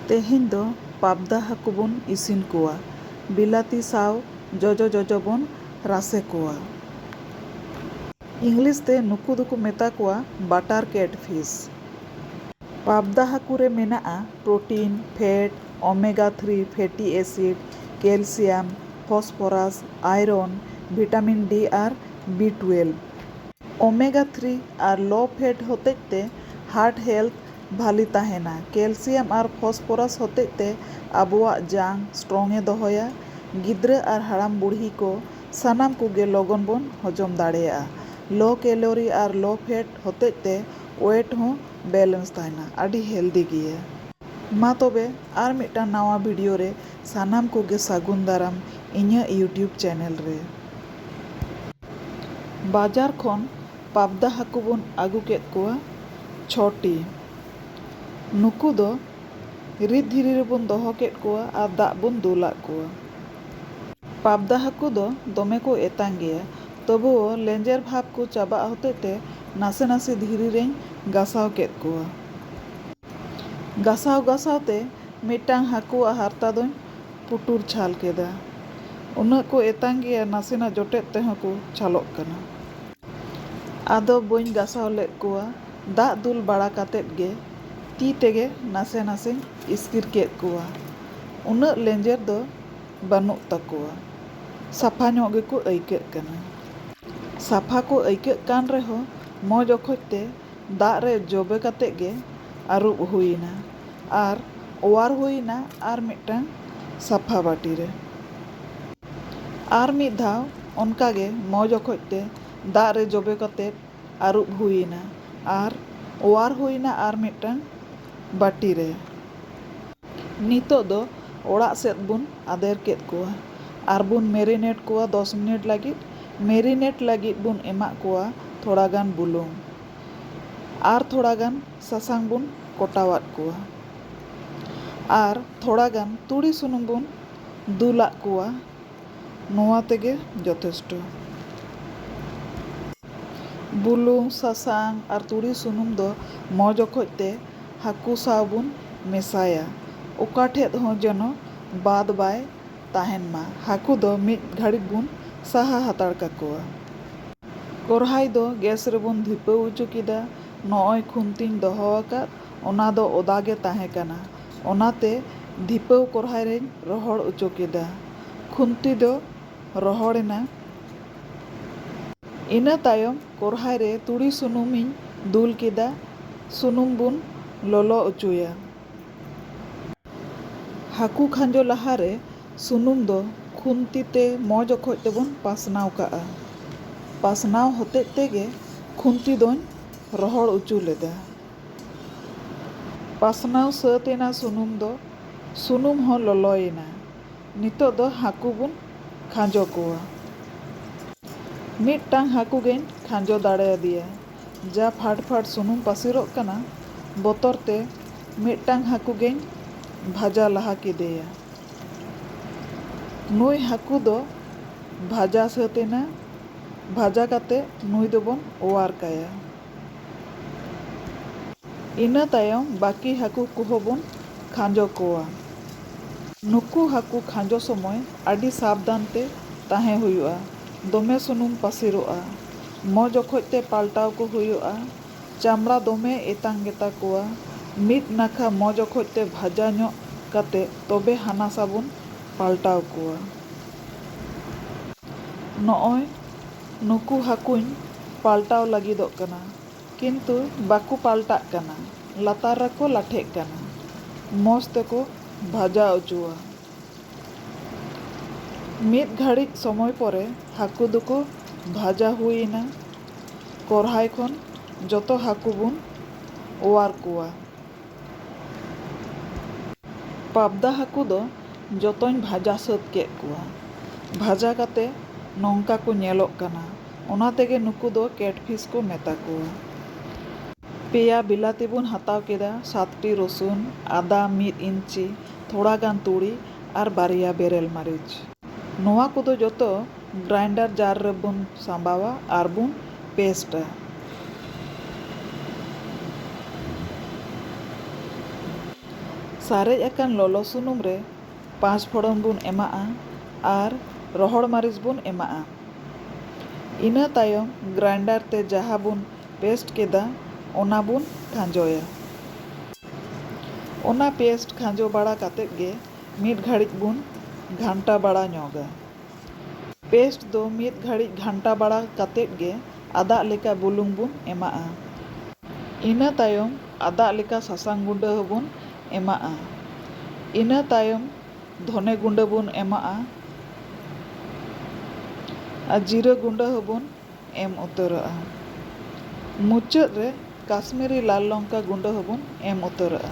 ᱛᱮᱦᱮᱧ ᱫᱚ ᱯᱟᱵᱽᱫᱟ ᱦᱟᱹᱠᱩ ᱵᱚᱱ ᱤᱥᱤᱱ ᱠᱚᱣᱟ᱾ ᱵᱤᱞᱟᱹᱛᱤ ᱥᱟᱶ ᱡᱚᱡᱚ ᱡᱚᱡᱚ ᱵᱚᱱ ᱨᱟᱥᱮ ᱠᱚᱣᱟ᱾ ᱤᱝᱞᱤᱥ ᱛᱮ ᱱᱩᱠᱩ ᱫᱚᱠᱚ ᱢᱮᱛᱟ ᱠᱚᱣᱟ ᱵᱟᱴᱟᱨ ᱠᱮᱴ ᱯᱷᱤᱥ᱾ ᱯᱟᱵᱽᱫᱟ ᱦᱟᱹᱠᱩ ᱨᱮ ᱢᱮᱱᱟᱜᱼᱟ protein, fat, omega three fatty acid, calcium, phosphorus, iron, vitamin D ᱟᱨ ᱵᱤ ᱴᱩᱭᱮᱞᱵᱷ᱾ ᱳᱢᱮᱜᱟ ᱛᱷᱨᱤ ᱟᱨ ᱞᱳ ᱯᱷᱮᱴ ᱦᱚᱛᱮᱡ ᱛᱮ ᱦᱟᱨᱴ ᱦᱮᱞᱛᱷ ᱵᱷᱟᱹᱞᱤ ᱛᱟᱦᱮᱸᱱᱟ᱾ ᱠᱮᱞᱥᱤᱭᱟᱢ ᱟᱨ ᱯᱷᱚᱥᱯᱷᱚᱨᱟᱥ ᱦᱚᱛᱮᱡ ᱛᱮ ᱟᱵᱚᱣᱟᱜ ᱡᱟᱝ ᱥᱴᱨᱚᱝ ᱮ ᱫᱚᱦᱚᱭᱟ᱾ ᱜᱤᱫᱽᱨᱟᱹ ᱟᱨ ᱦᱟᱲᱟᱢ ᱵᱩᱲᱦᱤ ᱠᱚ ᱥᱟᱱᱟᱢ ᱠᱚᱜᱮ ᱞᱚᱜᱚᱱ ᱵᱚᱱ ᱦᱚᱡᱚᱢ ᱫᱟᱲᱮᱭᱟᱜᱼᱟ᱾ ᱞᱳ ᱠᱮᱞᱳᱨᱤ ᱟᱨ ᱞᱳ ᱯᱷᱮᱴ ᱦᱚᱛᱮᱡ ᱛᱮ ᱳᱭᱮᱴ ᱦᱚᱸ ᱵᱮᱞᱮᱱᱥ ᱛᱟᱦᱮᱸᱱᱟ᱾ ᱟᱹᱰᱤ ᱦᱮᱞᱫᱤ ᱜᱮᱭᱟ᱾ ᱢᱟ ᱛᱚᱵᱮ ᱟᱨ ᱢᱤᱫᱴᱟᱝ ᱱᱟᱣᱟ ᱵᱷᱤᱰᱤᱭᱳ ᱨᱮ ᱥᱟᱱᱟᱢ ᱠᱚᱜᱮ ᱥᱟᱹᱜᱩᱱ ᱫᱟᱨᱟᱢ ᱤᱧᱟᱹᱜ ᱭᱩᱴᱭᱩᱵᱽ ᱪᱮᱱᱮᱞ ᱨᱮ᱾ ᱵᱟᱡᱟᱨ ᱠᱷᱚᱱ ᱯᱟᱵᱽᱫᱟ ᱦᱟᱹᱠᱩ ᱵᱚᱱ ᱟᱹᱜᱩ ᱠᱮᱫ ᱠᱚᱣᱟ ᱪᱷᱚ ᱴᱤ᱾ ᱱᱩᱠᱩ ᱫᱚ ᱨᱤᱫ ᱫᱷᱤᱨᱤ ᱨᱮᱵᱚᱱ ᱫᱚᱦᱚ ᱠᱮᱫ ᱠᱚᱣᱟ ᱟᱨ ᱫᱟᱜ ᱵᱚᱱ ᱫᱩᱞ ᱟᱫ ᱠᱚᱣᱟ᱾ ᱯᱟᱵᱽᱫᱟ ᱦᱟᱹᱠᱩ ᱫᱚ ᱫᱚᱢᱮ ᱠᱚ ᱮᱛᱟᱝ ᱜᱮᱭᱟ ᱛᱚᱵᱩᱣᱳ ᱞᱮᱸᱡᱮᱨ ᱵᱷᱟᱵᱽ ᱠᱚ ᱪᱟᱵᱟᱜ ᱦᱚᱛᱮᱡ ᱛᱮ ᱱᱟᱥᱮ ᱱᱟᱥᱮ ᱫᱷᱤᱨᱤ ᱨᱮᱧ ᱜᱟᱥᱟᱣ ᱠᱮᱫ ᱠᱚᱣᱟ᱾ ᱜᱟᱥᱟᱣ ᱜᱟᱥᱟᱣ ᱛᱮ ᱢᱤᱫᱴᱟᱹᱝ ᱦᱟᱹᱠᱩᱣᱟᱜ ᱦᱟᱨᱛᱟ ᱫᱚᱧ ᱯᱩᱴᱩᱨ ᱪᱷᱟᱞ ᱠᱮᱫᱟ᱾ ᱩᱱᱟᱹᱜ ᱠᱚ ᱮᱛᱟᱝ ᱜᱮᱭᱟ ᱱᱟᱥᱮᱱᱟᱜ ᱡᱚᱴᱮᱫ ᱛᱮᱦᱚᱸ ᱠᱚ ᱪᱷᱟᱞᱚᱜ ᱠᱟᱱᱟ᱾ ᱟᱫᱚ ᱵᱟᱹᱧ ᱜᱟᱥᱟᱣ ᱞᱮᱫ ᱠᱚᱣᱟ, ᱫᱟᱜ ᱫᱩᱞ ᱵᱟᱲᱟ ᱠᱟᱛᱮ ᱜᱮ ᱛᱤ ᱛᱮᱜᱮ ᱱᱟᱥᱮ ᱱᱟᱥᱮᱧ ᱤᱥᱠᱤᱨ ᱠᱮᱫ ᱠᱚᱣᱟ᱾ ᱩᱱᱟᱹᱜ ᱞᱮᱸᱡᱮᱨ ᱫᱚ ᱵᱟᱹᱱᱩᱜ ᱛᱟᱠᱚᱣᱟ᱾ ᱥᱟᱯᱷᱟ ᱧᱚᱜ ᱜᱮᱠᱚ ᱟᱹᱭᱠᱟᱹᱜ ᱠᱟᱱᱟ᱾ ᱥᱟᱯᱷᱟ ᱠᱚ ᱟᱹᱭᱠᱟᱹᱜ ᱠᱟᱱ ᱨᱮᱦᱚᱸ ᱢᱚᱡᱽ ᱚᱠᱚᱡ ᱛᱮ ᱫᱟᱜ ᱨᱮ ᱡᱚᱵᱮ ᱠᱟᱛᱮ ᱜᱮ ᱟᱹᱨᱩᱵ ᱦᱩᱭ ᱮᱱᱟ᱾ ᱟᱨ ᱚᱣᱟᱨ ᱦᱩᱭ ᱮᱱᱟ ᱟᱨ ᱢᱤᱫᱴᱟᱹᱝ ᱥᱟᱯᱷᱟ ᱵᱟᱹᱴᱤ ᱨᱮ᱾ ᱟᱨ ᱢᱤᱫ ᱫᱷᱟᱣ ᱚᱱᱠᱟ ᱜᱮ ᱢᱚᱡᱽ ᱚᱠᱚᱡ ᱛᱮ ᱫᱟᱜ ᱨᱮ ᱡᱚᱵᱮ ᱠᱟᱛᱮ ᱟᱹᱨᱩᱵ ᱦᱩᱭ ᱮᱱᱟ ᱟᱨ ᱚᱣᱟᱨ ᱦᱩᱭ ᱮᱱᱟ ᱟᱨ ᱢᱤᱫᱴᱟᱹᱝ ᱵᱟᱹᱴᱤ ᱨᱮ᱾ ᱱᱤᱛᱚᱜ ᱫᱚ ᱚᱲᱟᱜ ᱥᱮᱫ ᱵᱚᱱ ᱟᱫᱮᱨ ᱠᱮᱫ ᱠᱚᱣᱟ ᱟᱨ ᱵᱚᱱ ᱢᱮᱨᱤᱱᱮᱴ ᱠᱚᱣᱟ ᱫᱚᱥ ᱢᱤᱱᱤᱴ ᱞᱟᱹᱜᱤᱫ᱾ ᱢᱮᱨᱤᱱᱮᱴ ᱞᱟᱹᱜᱤᱫ ᱵᱚᱱ ᱮᱢᱟᱜ ᱠᱚᱣᱟ ᱛᱷᱚᱲᱟ ᱜᱟᱱ ᱵᱩᱞᱩᱝ ᱟᱨ ᱛᱷᱚᱲᱟ ᱜᱟᱱ ᱥᱟᱥᱟᱝ ᱵᱚᱱ ᱠᱚᱴᱟᱣᱟᱫ ᱠᱚᱣᱟ ᱟᱨ ᱛᱷᱚᱲᱟ ᱜᱟᱱ ᱛᱩᱲᱤ ᱥᱩᱱᱩᱢ ᱵᱚᱱ ᱫᱩᱞᱟᱫ ᱠᱚᱣᱟ ᱱᱚᱣᱟ ᱛᱮᱜᱮ ᱡᱚᱛᱷᱮᱥᱴᱚ᱾ ᱵᱩᱞᱩᱝ, ᱥᱟᱥᱟᱝ ᱟᱨ ᱛᱩᱲᱤ ᱥᱩᱱᱩᱢ ᱫᱚ ᱢᱚᱡᱽ ᱚᱠᱚᱡ ᱛᱮ ᱦᱟᱹᱠᱩ ᱥᱟᱶ ᱵᱚᱱ ᱢᱮᱥᱟᱭᱟ᱾ ᱚᱠᱟ ᱴᱷᱮᱫ ᱦᱚᱸ ᱡᱮᱱᱚ ᱵᱟᱫᱽ ᱵᱟᱭ ᱛᱟᱦᱮᱱ ᱢᱟ᱾ ᱦᱟᱹᱠᱩ ᱫᱚ ᱢᱤᱫ ᱜᱷᱟᱹᱲᱤᱠ ᱵᱚᱱ ᱥᱟᱦᱟ ᱦᱟᱛᱟᱲ ᱠᱟᱠᱚᱣᱟ᱾ ᱠᱚᱨᱦᱟᱭ ᱫᱚ ᱜᱮᱥ ᱨᱮᱵᱚᱱ ᱫᱷᱤᱯᱟᱹᱣ ᱚᱪᱚ ᱠᱮᱫᱟ᱾ ᱱᱚᱜᱼᱚᱭ ᱠᱷᱩᱱᱛᱤᱧ ᱫᱚᱦᱚ ᱟᱠᱟᱫ ᱚᱱᱟ ᱫᱚ ᱚᱫᱟ ᱜᱮ ᱛᱟᱦᱮᱸ ᱠᱟᱱᱟ᱾ ᱚᱱᱟᱛᱮ ᱫᱷᱤᱯᱟᱹᱣ ᱠᱚᱨᱦᱟᱭ ᱨᱮᱧ ᱨᱚᱦᱚᱲ ᱚᱪᱚ ᱠᱮᱫᱟ᱾ ᱠᱷᱩᱱᱛᱤ ᱫᱚ ᱨᱚᱦᱚᱲ ᱮᱱᱟ᱾ ᱤᱱᱟᱹ ᱛᱟᱭᱚᱢ ᱠᱚᱨᱦᱟᱭ ᱨᱮ ᱛᱩᱲᱤ ᱥᱩᱱᱩᱢ ᱤᱧ ᱫᱩᱞ ᱠᱮᱫᱟ᱾ ᱥᱩᱱᱩᱢ ᱵᱚᱱ ᱞᱚᱞᱚ ᱚᱪᱚᱭᱟ᱾ ᱦᱟᱹᱠᱩ ᱠᱷᱟᱸᱡᱚ ᱞᱟᱦᱟ ᱨᱮ ᱥᱩᱱᱩᱢ ᱫᱚ ᱠᱷᱩᱱᱛᱤ ᱛᱮ ᱢᱚᱡᱽ ᱚᱠᱚᱡ ᱛᱮᱵᱚᱱ ᱯᱟᱥᱱᱟᱣ ᱠᱟᱜᱼᱟ᱾ ᱯᱟᱥᱱᱟᱣ ᱦᱚᱛᱮᱡ ᱛᱮᱜᱮ ᱠᱷᱩᱱᱛᱤ ᱫᱚᱧ ᱨᱚᱦᱚᱲ ᱚᱪᱚ ᱞᱮᱫᱟ᱾ ᱯᱟᱥᱱᱟᱣ ᱥᱟᱹᱛ ᱮᱱᱟ ᱥᱩᱱᱩᱢ ᱫᱚ᱾ ᱥᱩᱱᱩᱢ ᱦᱚᱸ ᱞᱚᱞᱚᱭᱮᱱᱟ᱾ ᱱᱤᱛᱚᱜ ᱫᱚ ᱦᱟᱹᱠᱩ ᱵᱚᱱ ᱠᱷᱟᱸᱡᱚ ᱠᱚᱣᱟ᱾ ᱢᱤᱫᱴᱟᱝ ᱦᱟᱹᱠᱩ ᱜᱮᱧ ᱠᱷᱟᱸᱡᱚ ᱫᱟᱲᱮᱭᱟᱫᱮᱭᱟ᱾ ᱡᱟ ᱯᱷᱟᱰ ᱯᱷᱟᱰ ᱥᱩᱱᱩᱢ ᱯᱟᱹᱥᱤᱨᱚᱜ ᱠᱟᱱᱟ ᱵᱚᱛᱚᱨ ᱛᱮ ᱢᱤᱫᱴᱟᱝ ᱦᱟᱹᱠᱩ ᱜᱮᱧ ᱵᱷᱟᱡᱟ ᱞᱟᱦᱟ ᱠᱮᱫᱮᱭᱟ᱾ ᱱᱩᱭ ᱦᱟᱹᱠᱩ ᱫᱚ ᱵᱷᱟᱡᱟ ᱥᱟᱹᱛ ᱮᱱᱟ᱾ ᱵᱷᱟᱡᱟ ᱠᱟᱛᱮ ᱱᱩᱭ ᱫᱚᱵᱚᱱ ᱚᱣᱟᱨ ᱠᱟᱭᱟ᱾ ᱤᱱᱟᱹ ᱛᱟᱭᱚᱢ ᱵᱟᱹᱠᱤ ᱦᱟᱹᱠᱩ ᱠᱚᱦᱚᱸ ᱵᱚᱱ ᱠᱷᱟᱸᱡᱚ ᱠᱚᱣᱟ᱾ ᱱᱩᱠᱩ ᱦᱟᱹᱠᱩ ᱠᱷᱟᱸᱡᱚ ᱥᱚᱢᱚᱭ ᱟᱹᱰᱤ ᱥᱟᱵᱫᱷᱟᱱ ᱛᱮ ᱛᱟᱦᱮᱸ ᱦᱩᱭᱩᱜᱼᱟ᱾ ᱫᱚᱢᱮ ᱥᱩᱱᱩᱢ ᱯᱟᱹᱥᱤᱨᱚᱜᱼᱟ᱾ ᱢᱚᱡᱽ ᱚᱠᱚᱡ ᱛᱮ ᱯᱟᱞᱴᱟᱣ ᱠᱚ ᱦᱩᱭᱩᱜᱼᱟ᱾ ᱪᱟᱢᱲᱟ ᱫᱚᱢᱮ ᱮᱛᱟᱝ ᱜᱮᱛᱟ ᱠᱚᱣᱟ᱾ ᱢᱤᱫ ᱱᱟᱠᱷᱟ ᱢᱚᱡᱽ ᱚᱠᱚᱡ ᱛᱮ ᱵᱷᱟᱡᱟ ᱧᱚᱜ ᱠᱟᱛᱮ ᱛᱚᱵᱮ ᱦᱟᱱᱟᱥᱟ ᱵᱚᱱ ᱯᱟᱞᱴᱟᱣ ᱠᱚᱣᱟ᱾ ᱱᱚᱜᱼᱚᱭ ᱱᱩᱠᱩ ᱦᱟᱹᱠᱩᱧ ᱯᱟᱞᱴᱟᱣ ᱞᱟᱹᱜᱤᱫᱚᱜ ᱠᱟᱱᱟ᱾ ᱠᱤᱱᱛᱩ ᱵᱟᱠᱚ ᱯᱟᱞᱴᱟᱜ ᱠᱟᱱᱟ᱾ ᱞᱟᱛᱟᱨ ᱨᱮᱠᱚ ᱞᱟᱴᱷᱮᱜ ᱠᱟᱱᱟ᱾ ᱢᱚᱡᱽ ᱛᱮᱠᱚ ᱵᱷᱟᱡᱟ ᱚᱪᱚᱣᱟ᱾ ᱢᱤᱫ ᱜᱷᱟᱹᱲᱤᱡ ᱥᱚᱢᱚᱭ ᱯᱚᱨᱮ ᱦᱟᱹᱠᱩ ᱫᱚᱠᱚ ᱵᱷᱟᱡᱟ ᱦᱩᱭ ᱮᱱᱟ᱾ ᱠᱚᱨᱦᱟᱭ ᱠᱷᱚᱱ ᱡᱚᱛᱚ ᱦᱟᱹᱠᱩ ᱵᱚᱱ ᱚᱣᱟᱨ ᱠᱚᱣᱟ᱾ ᱯᱟᱵᱽᱫᱟ ᱦᱟᱹᱠᱩ ᱫᱚ ᱡᱚᱛᱚᱧ ᱵᱷᱟᱡᱟ ᱥᱟᱹᱛ ᱠᱮᱫ ᱠᱚᱣᱟ᱾ ᱵᱷᱟᱡᱟ ᱠᱟᱛᱮ ᱱᱚᱝᱠᱟ ᱠᱚ ᱧᱮᱞᱚᱜ ᱠᱟᱱᱟ᱾ ᱚᱱᱟ ᱛᱮᱜᱮ ᱱᱩᱠᱩ ᱫᱚ ᱠᱮᱴᱯᱷᱤᱥ ᱠᱚ ᱢᱮᱛᱟ ᱠᱚᱣᱟ᱾ ᱯᱮᱭᱟ ᱵᱤᱞᱟᱹᱛᱤ ᱵᱚᱱ ᱦᱟᱛᱟᱣ ᱠᱮᱫᱟ, ᱥᱟᱛᱴᱤ ᱨᱚᱥᱩᱱ, ᱟᱫᱟ ᱢᱤᱫ ᱤᱧᱪᱤ, ᱛᱷᱚᱲᱟ ᱜᱟᱱ ᱛᱩᱲᱤ ᱟᱨ ᱵᱟᱨᱭᱟ ᱵᱮᱨᱮᱞ ᱢᱟᱹᱨᱤᱪ᱾ ᱱᱚᱣᱟ ᱠᱚᱫᱚ ᱡᱚᱛᱚ ᱜᱨᱟᱭᱤᱱᱰᱟᱨ ᱡᱟᱨ ᱨᱮ ᱵᱚᱱ ᱥᱟᱸᱵᱟᱣᱟ ᱟᱨ ᱵᱚᱱ ᱯᱮᱥᱴᱼᱟ᱾ ᱥᱟᱨᱮᱡ ᱟᱠᱟᱱ ᱞᱚᱞᱚ ᱥᱩᱱᱩᱢ ᱨᱮ ᱯᱟᱸᱪ ᱯᱷᱚᱲᱚᱱ ᱵᱚᱱ ᱮᱢᱟᱜᱼᱟ ᱟᱨ ᱨᱚᱦᱚᱲ ᱢᱟᱹᱨᱤᱪ ᱵᱚᱱ ᱮᱢᱟᱜᱼᱟ᱾ ᱤᱱᱟᱹ ᱛᱟᱭᱚᱢ ᱜᱨᱟᱭᱤᱱᱰᱟᱨ ᱛᱮ ᱡᱟᱦᱟᱸ ᱵᱚᱱ ᱯᱮᱥᱴ ᱠᱮᱫᱟ ᱚᱱᱟ ᱵᱚᱱ ᱠᱷᱟᱸᱡᱚᱭᱟ᱾ ᱚᱱᱟ ᱯᱮᱥᱴ ᱠᱷᱟᱸᱡᱚ ᱵᱟᱲᱟ ᱠᱟᱛᱮ ᱜᱮ ᱢᱤᱫ ᱜᱷᱟᱹᱲᱤᱡ ᱵᱚᱱ ᱜᱷᱟᱱᱴᱟ ᱵᱟᱲᱟ ᱧᱚᱜᱟ᱾ ᱯᱮᱥᱴ ᱫᱚ ᱢᱤᱫ ᱜᱷᱟᱹᱲᱤᱡ ᱜᱷᱟᱱᱴᱟ ᱵᱟᱲᱟ ᱠᱟᱛᱮ ᱜᱮ ᱟᱫᱟᱜ ᱞᱮᱠᱟ ᱵᱩᱞᱩᱝ ᱵᱚᱱ ᱮᱢᱟᱜᱼᱟ᱾ ᱤᱱᱟᱹ ᱛᱟᱭᱚᱢ ᱟᱫᱟᱜ ᱞᱮᱠᱟ ᱥᱟᱥᱟᱝ ᱜᱩᱸᱰᱟᱹ ᱦᱚᱸ ᱵᱚᱱ ᱮᱢᱟᱜᱼᱟ᱾ ᱤᱱᱟᱹ ᱛᱟᱭᱚᱢ ᱫᱷᱚᱱᱮ ᱜᱩᱸᱰᱟᱹ ᱵᱚᱱ ᱮᱢᱟᱜᱼᱟ ᱟᱨ ᱡᱤᱨᱟᱹ ᱜᱩᱸᱰᱟᱹ ᱦᱚᱸ ᱵᱚᱱ ᱮᱢ ᱩᱛᱟᱹᱨᱚᱜᱼᱟ᱾ ᱢᱩᱪᱟᱹᱫ ᱨᱮ ᱠᱟᱥᱢᱤᱨᱤ ᱞᱟᱞ ᱞᱚᱝᱠᱟ ᱜᱩᱸᱰᱟᱹ ᱦᱚᱸ ᱵᱚᱱ ᱮᱢ ᱩᱛᱟᱹᱨᱚᱜᱼᱟ᱾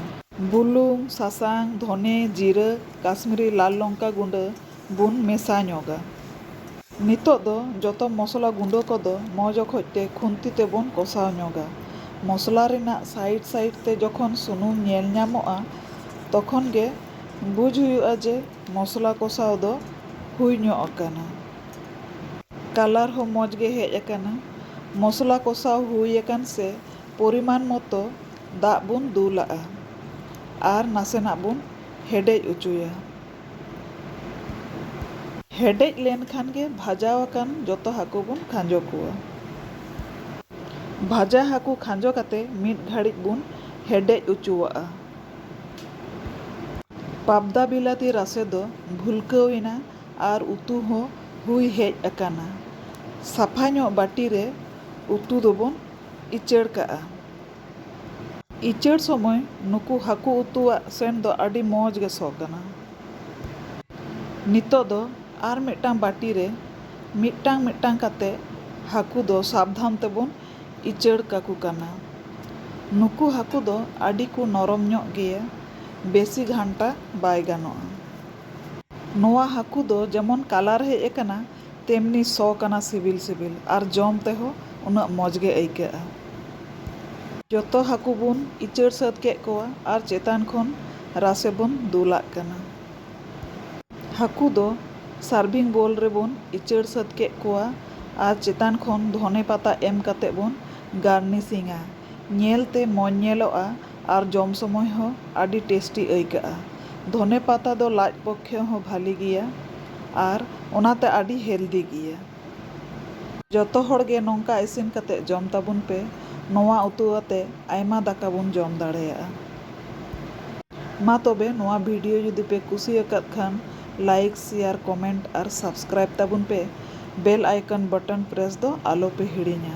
ᱵᱩᱞᱩᱝ, ᱥᱟᱥᱟᱝ, ᱫᱷᱚᱱᱮ ᱡᱤᱨᱟᱹ, ᱠᱟᱥᱢᱤᱨᱤ ᱞᱟᱞ ᱞᱚᱝᱠᱟ ᱜᱩᱸᱰᱟᱹ ᱵᱚᱱ ᱢᱮᱥᱟ ᱧᱚᱜᱟ᱾ ᱱᱤᱛᱚᱜ ᱫᱚ ᱡᱚᱛᱚ ᱢᱚᱥᱞᱟ ᱜᱩᱸᱰᱟᱹ ᱠᱚ ᱫᱚ ᱢᱚᱡᱽ ᱚᱠᱚᱡ ᱛᱮ ᱠᱷᱩᱱᱛᱤ ᱛᱮ ᱵᱚᱱ ᱠᱚᱥᱟᱣ ᱧᱚᱜᱟ᱾ ᱢᱚᱥᱞᱟ ᱨᱮᱱᱟᱜ ᱥᱟᱭᱤᱰ ᱥᱟᱭᱤᱰ ᱛᱮ ᱡᱚᱠᱷᱚᱱ ᱥᱩᱱᱩᱢ ᱧᱮᱞ ᱧᱟᱢᱚᱜᱼᱟ ᱛᱚᱠᱷᱚᱱ ᱜᱮ ᱵᱩᱡᱽ ᱦᱩᱭᱩᱜᱼᱟ ᱡᱮ ᱢᱚᱥᱞᱟ ᱠᱚᱥᱟᱣ ᱫᱚ ᱦᱩᱭ ᱧᱚᱜ ᱟᱠᱟᱱᱟ᱾ ᱠᱟᱞᱟᱨ ᱦᱚᱸ ᱢᱚᱡᱽ ᱜᱮ ᱦᱮᱡ ᱟᱠᱟᱱᱟ᱾ ᱢᱚᱥᱞᱟ ᱠᱚᱥᱟᱣ ᱦᱩᱭ ᱟᱠᱟᱱ ᱥᱮ ᱯᱚᱨᱤᱢᱟᱱ ᱢᱚᱛᱚ ᱫᱟᱜ ᱵᱚᱱ ᱫᱩᱞᱟᱜᱼᱟ ᱟᱨ ᱱᱟᱥᱮᱱᱟᱜ ᱵᱚᱱ ᱦᱮᱰᱮᱡ ᱚᱪᱚᱭᱟ᱾ ᱦᱮᱰᱮᱡ ᱞᱮᱱ ᱠᱷᱟᱱ ᱜᱮ ᱵᱷᱟᱡᱟᱣ ᱟᱠᱟᱱ ᱡᱚᱛᱚ ᱦᱟᱹᱠᱩ ᱵᱚᱱ ᱠᱷᱟᱸᱡᱚ ᱠᱚᱣᱟ᱾ ᱵᱷᱟᱡᱟ ᱦᱟᱹᱠᱩ ᱠᱷᱟᱸᱡᱚ ᱠᱟᱛᱮ ᱢᱤᱫ ᱜᱷᱟᱹᱲᱤᱡ ᱵᱚᱱ ᱦᱮᱰᱮᱡ ᱚᱪᱚᱣᱟᱜᱼᱟ᱾ ᱯᱟᱵᱽᱫᱟ ᱵᱤᱞᱟᱹᱛᱤ ᱨᱟᱥᱮ ᱫᱚ ᱵᱷᱩᱞᱠᱟᱹᱣ ᱮᱱᱟ ᱟᱨ ᱩᱛᱩ ᱦᱚᱸ ᱦᱩᱭ ᱦᱮᱡ ᱟᱠᱟᱱᱟ᱾ ᱥᱟᱯᱷᱟ ᱧᱚᱜ ᱵᱟᱹᱴᱤ ᱨᱮ ᱩᱛᱩ ᱫᱚᱵᱚᱱ ᱤᱪᱟᱹᱲ ᱠᱟᱜᱼᱟ᱾ ᱤᱪᱟᱹᱲ ᱥᱚᱢᱚᱭ ᱱᱩᱠᱩ ᱦᱟᱹᱠᱩ ᱩᱛᱩᱣᱟᱜ ᱥᱮᱱᱴ ᱫᱚ ᱟᱹᱰᱤ ᱢᱚᱡᱽ ᱜᱮ ᱥᱚ ᱠᱟᱱᱟ᱾ ᱱᱤᱛᱚᱜ ᱫᱚ ᱟᱨ ᱢᱤᱫᱴᱟᱝ ᱵᱟᱹᱴᱤ ᱨᱮ ᱢᱤᱫᱴᱟᱝ ᱢᱤᱫᱴᱟᱝ ᱠᱟᱛᱮ ᱦᱟᱹᱠᱩ ᱫᱚ ᱥᱟᱵᱽᱫᱷᱟᱱ ᱛᱮᱵᱚᱱ ᱤᱪᱟᱹᱲ ᱠᱟᱠᱚ ᱠᱟᱱᱟ᱾ ᱱᱩᱠᱩ ᱦᱟᱹᱠᱩ ᱫᱚ ᱟᱹᱰᱤ ᱠᱚ ᱱᱚᱨᱚᱢ ᱧᱚᱜ ᱜᱮᱭᱟ, ᱵᱮᱥᱤ ᱜᱷᱟᱱᱴᱟ ᱵᱟᱭ ᱜᱟᱱᱚᱜᱼᱟ᱾ ᱱᱚᱣᱟ ᱦᱟᱹᱠᱩ ᱫᱚ ᱡᱮᱢᱚᱱ ᱠᱟᱞᱟᱨ ᱦᱮᱡ ᱟᱠᱟᱱᱟ ᱛᱮᱢᱱᱤ ᱥᱚ ᱠᱟᱱᱟ ᱥᱤᱵᱤᱞ ᱥᱤᱵᱤᱞ ᱟᱨ ᱡᱚᱢ ᱛᱮᱦᱚᱸ ᱩᱱᱟᱹᱜ ᱢᱚᱡᱽ ᱜᱮ ᱟᱹᱭᱠᱟᱹᱜᱼᱟ᱾ ᱡᱚᱛᱚ ᱦᱟᱹᱠᱩ ᱵᱚᱱ ᱤᱪᱟᱹᱲ ᱥᱟᱹᱛ ᱠᱮᱫ ᱠᱚᱣᱟ ᱟᱨ ᱪᱮᱛᱟᱱ ᱠᱷᱚᱱ ᱨᱟᱥᱮ ᱵᱚᱱ ᱫᱩᱞᱟᱜ ᱠᱟᱱᱟ᱾ ᱦᱟᱹᱠᱩ ᱫᱚ ᱥᱟᱨᱵᱷᱤᱝ ᱵᱳᱞ ᱨᱮᱵᱚᱱ ᱤᱪᱟᱹᱲ ᱥᱟᱹᱛ ᱠᱮᱫ ᱠᱚᱣᱟ᱾ ᱟᱨ ᱪᱮᱛᱟᱱ ᱠᱷᱚᱱ ᱫᱷᱚᱱᱮ ᱯᱟᱛᱟ ᱮᱢ ᱠᱟᱛᱮ ᱵᱚᱱ ᱜᱟᱨᱱᱤᱥᱤᱝᱼᱟ᱾ ᱧᱮᱞ ᱛᱮ ᱢᱚᱡᱽ ᱧᱮᱞᱚᱜᱼᱟ ᱟᱨ ᱡᱚᱢ ᱥᱚᱢᱚᱭ ᱦᱚᱸ ᱟᱹᱰᱤ ᱴᱮᱥᱴᱤ ᱟᱹᱭᱠᱟᱹᱜᱼᱟ᱾ ᱫᱷᱚᱱᱮ ᱯᱟᱛᱟ ᱫᱚ ᱞᱟᱡ ᱯᱚᱠᱠᱷᱮ ᱦᱚᱸ ᱵᱷᱟᱹᱞᱤ ᱜᱮᱭᱟ ᱟᱨ ᱚᱱᱟᱛᱮ ᱟᱹᱰᱤ ᱦᱮᱞᱫᱤ ᱜᱮᱭᱟ᱾ ᱡᱚᱛᱚ ᱦᱚᱲ ᱜᱮ ᱱᱚᱝᱠᱟ ᱤᱥᱤᱱ ᱠᱟᱛᱮ ᱡᱚᱢ ᱛᱟᱵᱚᱱ ᱯᱮ᱾ ᱱᱚᱣᱟ ᱩᱛᱩ ᱟᱛᱮ ᱟᱭᱢᱟ ᱫᱟᱠᱟ ᱵᱚᱱ ᱡᱚᱢ ᱫᱟᱲᱮᱭᱟᱜᱼᱟ᱾ ᱢᱟ ᱛᱚᱵᱮ ᱱᱚᱣᱟ ᱵᱷᱤᱰᱤᱭᱳ ᱡᱩᱫᱤ ᱯᱮ ᱠᱩᱥᱤ ᱟᱠᱟᱫ ᱠᱷᱟᱱ ᱞᱟᱭᱤᱠ, ᱥᱮᱭᱟᱨ, ᱠᱚᱢᱮᱱᱴ ᱟᱨ ᱥᱟᱵᱥᱠᱨᱟᱭᱤᱵᱽ ᱛᱟᱵᱚᱱ ᱯᱮ᱾ ᱵᱮᱞ ᱟᱭᱠᱚᱱ ᱵᱚᱴᱚᱱ ᱯᱨᱮᱥ ᱫᱚ ᱟᱞᱚ ᱯᱮ ᱦᱤᱲᱤᱧᱟ᱾